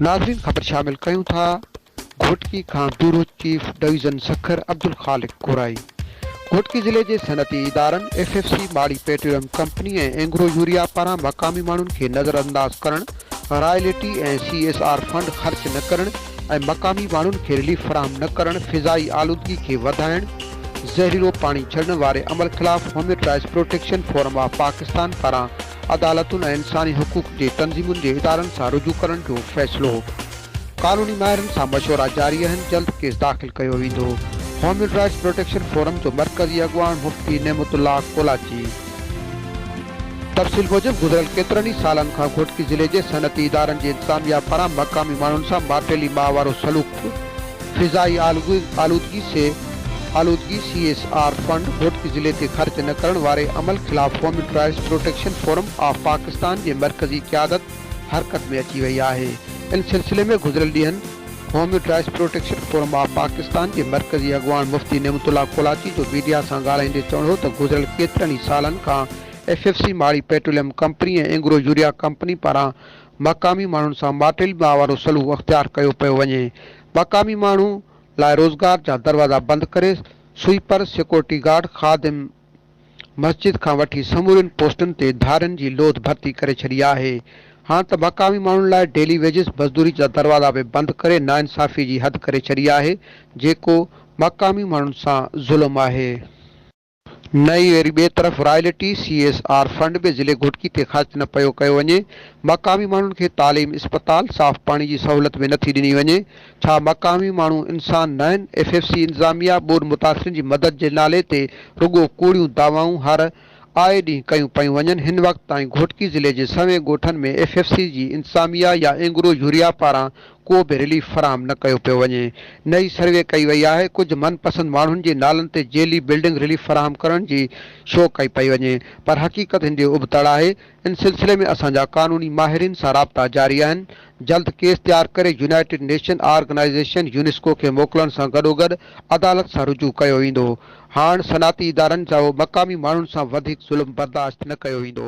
ناظرين خبر شامل ڪيون ٿا گهوٽڪي کان bureau chief division Sukkur Abdul Khaliq Korai Ghotki ضلعي جي صنعتي ادارن F F C Mari petroleum company ۽ Engro urea پاران مقامي ماڻهن کي نظرانداز ڪرڻ royalty ۽ C S R fund خرچ نه ڪرڻ ۽ مقامي ماڻهن کي رليف فراهم نه ڪرڻ، فضائي آلودگي کي وڌائڻ، زهريلو پاڻي ڇڏڻ واري عمل خلاف human rights protection forum of Pakistan پاران عدالتن ۽ انساني حقوق جي تنظيمن جي ادارن سان رجوع ڪرڻ جو فيصلو، قانوني ماهرن سان مشورا جاري آهن، جلد ڪيس داخل ڪيو ويندو، هيومن رائٽس پروٽيڪشن فورم جو مرڪزي اڳواڻ مفتي نعمت الله ڪولاچي. تفصيل موجب گذريل ڪيترن ئي سالن کان گهوٽڪي ضلعي جي صنعتي ادارن جي انتظاميا پاران مقامي ماڻهن سان ماٽيلي ماء وارو سلوڪ، فضائي آلودگي، سي آلودگي، C S R fund Ghotki ضلعي تي خرچ نه ڪرڻ واري عمل خلاف human rights protection forum of Pakistan جي مرڪزي قيادت حرڪت ۾ اچي وئي آهي ان سلسلي ۾ گذريل ڏينهن human rights protection forum of Pakistan جي مرڪزي اڳواڻ مفتي نعمت الله ڪولاچي جو ميڊيا سان ڳالهائيندي چوڻ هو ته گذريل ڪيترن ئي سالن کان F F C Mari petroleum company ۽ Engro urea company پاران مقامي ماڻهن سان ماٽيل ماء وارو سلوڪ اختيار ڪيو پيو وڃي مقامي ماڻهن لاء روزگار جا دروازا بند ڪري سوئيپر سيڪورٽي گارڊ خادم مسجد کان وٺي سمورين پوسٽن تي ڌارين جي لوڌ ڀرتي ڪري ڇڏي آهي، هاڻ ته مقامي ماڻهن لاء ڊيلي ويجز مزدوري جا دروازا به بند ڪري ناانصافي جي حد ڪري ڇڏي آهي، جيڪو مقامي ماڻهن سان ظلم آهي. نه ئي وري ٻئي طرف royalty, C S R, fund به ضلعي گهوٽڪي تي خرچ نه پيو ڪيو وڃي، مقامي ماڻهن کي تعليم، اسپتال، صاف پاڻي جي سهولت به نٿي ڏني وڃي، ڇا مقامي ماڻهو انسان ناهن؟ ايف ايف سي انتظاميا ٻوڏ متاثرين جي مدد جي نالي تي رڳو ڪوڙيون دعوائون هر آء ڏينهن ڪيون پيون وڃن، هن وقت تائين گهوٽڪي ضلعي جي سوين ڳوٺن ۾ ايف ايف سي جي انتظاميا يا اينگرو يوريا پاران ڪو به رليف فراهم نه ڪيو پيو وڃي نه ئي سروي ڪئي وئي آهي، ڪجهه من پسند ماڻهن جي نالن تي جيلي بلڊنگ رليف فراهم ڪرڻ جي شو ڪئي پئي وڃي پر حقيقت هن جي ابتڙ آهي ان سلسلي ۾ اسان جا قانوني ماهرين سان رابطا جاري آهن، جلد ڪيس تيار ڪري يونائيٽيڊ نيشن آرگنائيزيشن يونيسڪو کي موڪلڻ سان گڏوگڏ عدالت سان رجوع ڪيو ويندو، هاڻ صنعتي ادارن سهو مقامي ماڻهن سان وڌيڪ ظلم برداشت نه ڪيو ويندو.